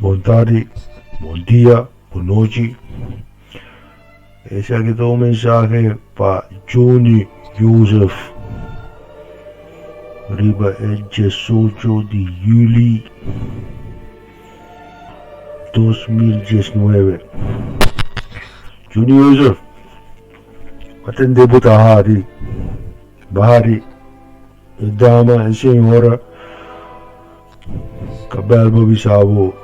Bon tardi, bon dia, bon nochi. Esaki ta un mensahe pa Juni Jozef riba e diesocho di Juli. dos mil diesnuebe. Juni Jozef a tende bo ta hadi, badi, e dama, e señora ta bel bo bisa bo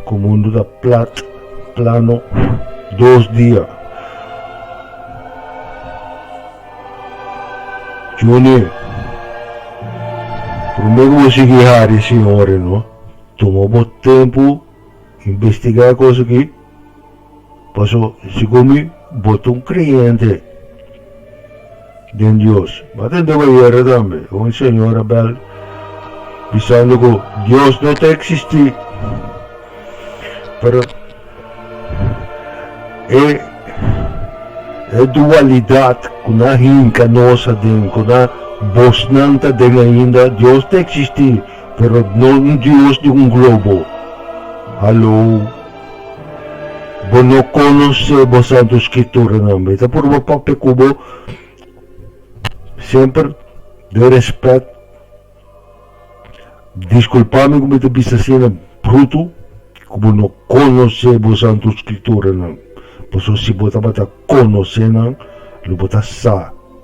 ku mundu ta plat, plano, dos dia. Juni, prome ku bo sigui hadi e señora no. Tuma bo tempu investigá kos akí, paso segun mi bo ta un kreyente den Dios. Bo ta deba yera tambe un señor a bèl bisando ku Dios no ta eksistí, pero e e dualidat ku nan hinka nos aden, ku nan bosnan ta den ainda, Dios ta eksistí. Pero nos no Dios di un globo. Hallo. Bo no conoce bo Santo Scriturnan. Mi ta purba papia cu bo semper den respect. Disculpa mi cu mi ta bisa asina bruto cu bo no conoce bo Santo Scriturnan. Pasobra si bo tabata conoce nan, lo bo ta sa.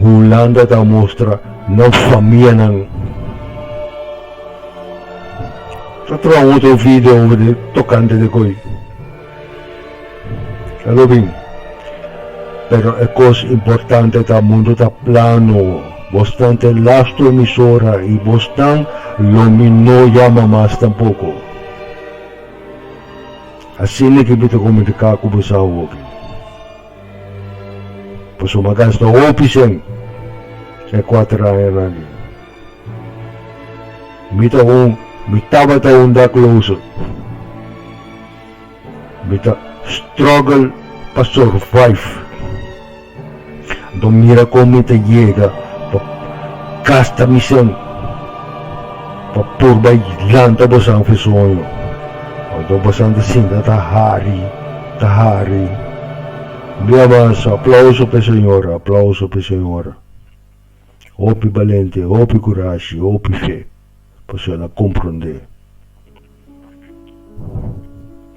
Hulanda ta mustra nan famianan. Ta troha un otro video tocante de koe. Ta lo bin. Pero e cos importante ta mundo ta plano. Bos nan te lastu emisora y bos nan lo mi no yama mas tampoco. Asina ke mi ta comunica cu bos awo aki. Pasobra a gasta hopi cen e kuater añanan ei. Mi ta un, mi tabata un dakloso. Mi ta struggle pa survive. Anto mira kon mi ta yega pa gasta mi cen. Pa por bai lanta bosan fu e soño. Oto bosan ta sinta ta hari, ta hari. Un dia mas, aplauso p'e señora, aplauso p'e señora. Hopi balente, hopi kurashi, hopi fe, pasobra el a komprondé.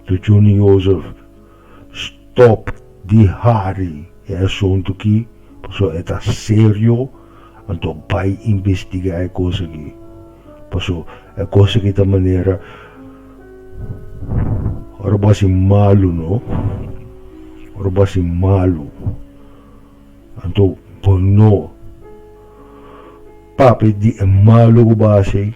Tu Juni Jozef stop di hari e asuntu ki paso e ta serio anto bai investiga e kos aki paso e kos aki ta manera ora bo hasi malu no ora bo hasi malu anto bo no papia di e malu ku bo hasi.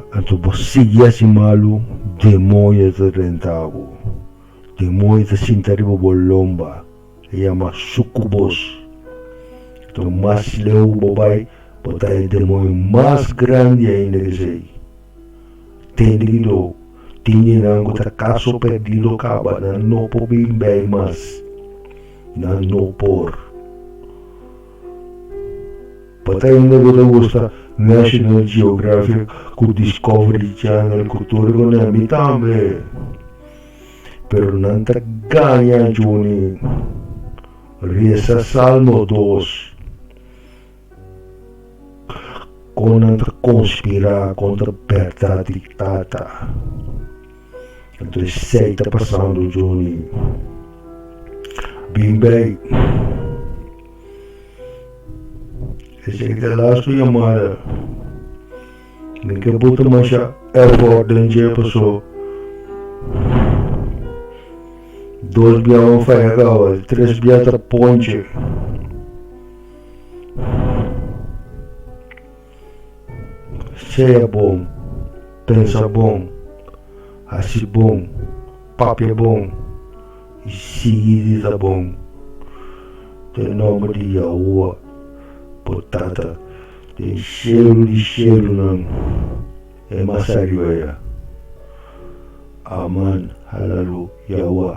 Anto bo sigui hasi malu, demoño ta renta bo. Demoño ta sinta riba bo lomba, e yama sukubos. Anto, mas leu ku bo bai, bo ta haya demoño mas grandi ainda ku esei. Tende ki do, tin djinnan ku ta kaso perdido kaba, nan no por bin bai mas, nan no por. Pa ta hinda ku ta gusta National Geographic ku Discovery Channel ku tur e kune, mi tambe. Pero nan ta gaña Juni. Resa Salmo dos. Kon nan ta konspirá kontra bèrdat di Tata. Anto esei ta pasando Johnny. Bin bai. Eseki ta las ku yamada. Mi ke puta masha effort den dje paso dos bia wan faya kaba di tres bia ta ponche. Sea bon, pensa bon, hasi bon, papia bon i sigui di ta bon. Den nomber di Yahua, bo Tata den shelu di shelunan, e mas hariu aya. Aman, halalu Yahua.